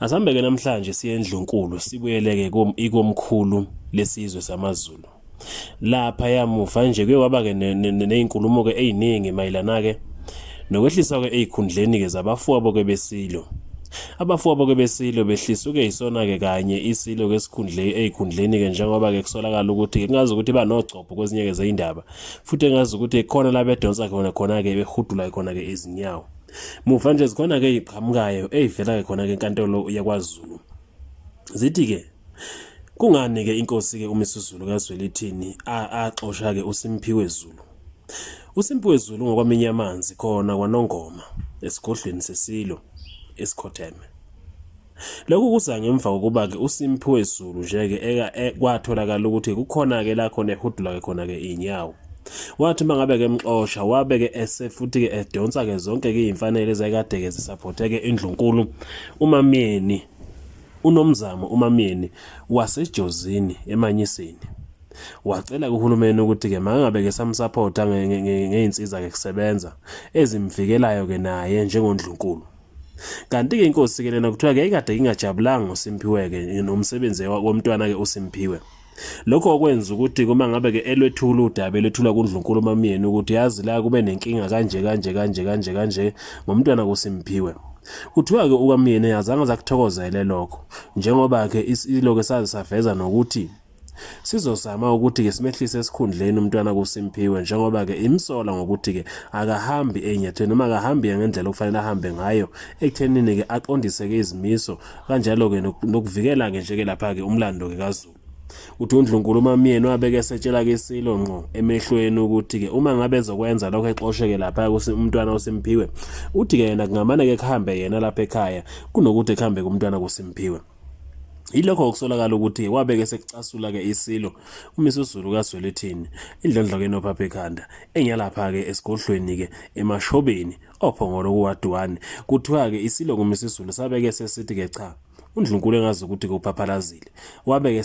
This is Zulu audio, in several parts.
Asambeke namhlanje siye endlunkulu sibuyeleke ikomkhulu lesizwe samaZulu. Lapha yamuva nje kuye kwaba ke nezinkulumo ke eziningi mayilana ke nokwehlisa ke ezikhundleni ke zabafowabo ke besilo. Abafowabo ke besilo behlisa ke isona ke kanye isilo ke sikhundle ezikhundleni ke njengoba ke kusolakala ukuthi ke ngazi ukuthi banogcopho kwezinye ke zeindaba futhi ngazi ukuthi khona la bedonsa khona khona ke behudula khona ke izinyawo. Muva nje zikhona ke iqhamukayo eyivela ke khona ke enkantolo yakwaZulu. Zithi ke kungani ke inkosi ke uMisuzulu kaZwelithini axosha ke uSimphiwe Zulu. USimphiwe Zulu ngokwaminya amanzi khona kwaNongoma esigodlweni sesilo esikhotheme. Lokhu kuza ngemva kokuba-ke uSimphiwe Zulu nje-ke e, kwatholakala ukuthi kukhona-ke la khona ehudula-ke khona-ke iy'nyawo wathi uma ngabe-ke emxosha wabe-ke esefuthi-ke edonsa-ke zonke-ke iy'mfanele ezayekade-ke zisaphothe-ke indlunkulu umamyeni unomzamo umamyeni wasejozini emanyisini wacela kuhulumeni ukuthi-ke mangabe-ke samsaphotha ngey'nsiza-ke kusebenza ezimvikelayo-ke naye njengondlunkulu Kanti-ke inkosi ke lena kuthiwa ke ikade ingajabulanga uSimphiwe-ke nomsebenzi womntwana-ke uSimphiwe. Lokho okwenza ukuthi uma ngabe ke elwethula udaba elwethula kundlunkulu mamyeni ukuthi yazi la kube nenkinga kanje kanje kanje kanje kanje ngomntwana kuSimphiwe. Kuthiwa ke ukamyeni azange zakuthokozele lokho njengoba ke isiloke saze saveza nokuthi Sizozama ukuthi-ke simehlise esikhundleni umntwana kuSimphiwe njengoba-ke imsola ngokuthi-ke akahambi enyathweni noma akahambi ngendlela okufanele ahambe ngayo ekuthenini-ke aqondise-ke izimiso kanjalo-ke nokuvikela-ke nje-ke lapha-ke umlando-ke kaZulu uthi uNdlunkulu umamyeni wabeke esetshela ke isilo ngqo emehlweni ukuthi ke uma ngabe ezokwenza lokho exosheke lapha umntwana uSimphiwe uthi ke yena kungamane ke kuhambe yena lapha ekhaya kunokuthi kuhambe kumntwana kuSimphiwe Yilokho okusolakala ukuthi wabeke esekucasula-ke isilo uMisuzulu kaZwelithini indlondlokeni ophapha ekhanda enyalapha-ke esigodlweni-ke emashobeni ophongolo kuwaduwane kuthiwa-ke isilo kuMisuzulu sabeke sesithi-ke cha undlunkulu engazi ukuthi kuphaphalazile wabeke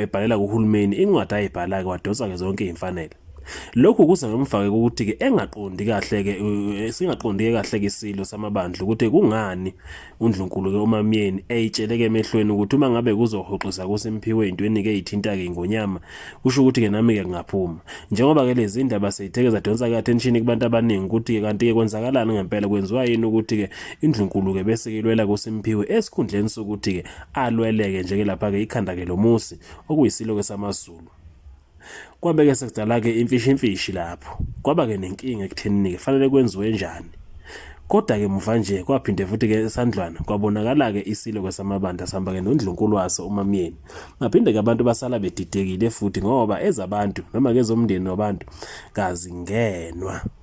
ebhalela kuhulumeni incwadi ayibhala-ke wadonsa-ke zonke iy'mfanele Lokhu kuza ngemva-ke kokuthi-ke engaqondi kahle-ke singaqondi-ke kahle-ke isilo samabandla ukuthi kungani UNdlunkulu ke uMaMyeni eyitsheleke emehlweni ukuthi uma ngabe kuzohoxisa kuSimphiwe intweni ke ithinta ke iNgonyama kusho ukuthi ke nami ke kungaphuma njengoba ke lezi ndaba seyitheke zadonsa ke attention kubantu abaningi ukuthi ke kanti ke kwenzakalani ngempela kwenziwa yini ukuthi ke iNdlunkulu ke bese ilwela kuSimphiwe esikhundleni sokuthi ke alweleke nje ke lapha ke ikhanda ke lomusi okuyisilo ke samaZulu Kwabe-ke sekudala-ke imfishimfishi lapho. Kwaba-ke nenkinga ekuthenini-ke kufanele kwenziwe njani. Kodwa-ke muva nje kwaphinde futhi-ke esandlwana kwabonakala-ke isilokwe samabandla sihamba-ke nondlunkulu waso umamyeni. Baphinde-ke abantu basala bedidekile futhi ngoba ezabantu noma-ke ezomndeni wabantu kazingenwa.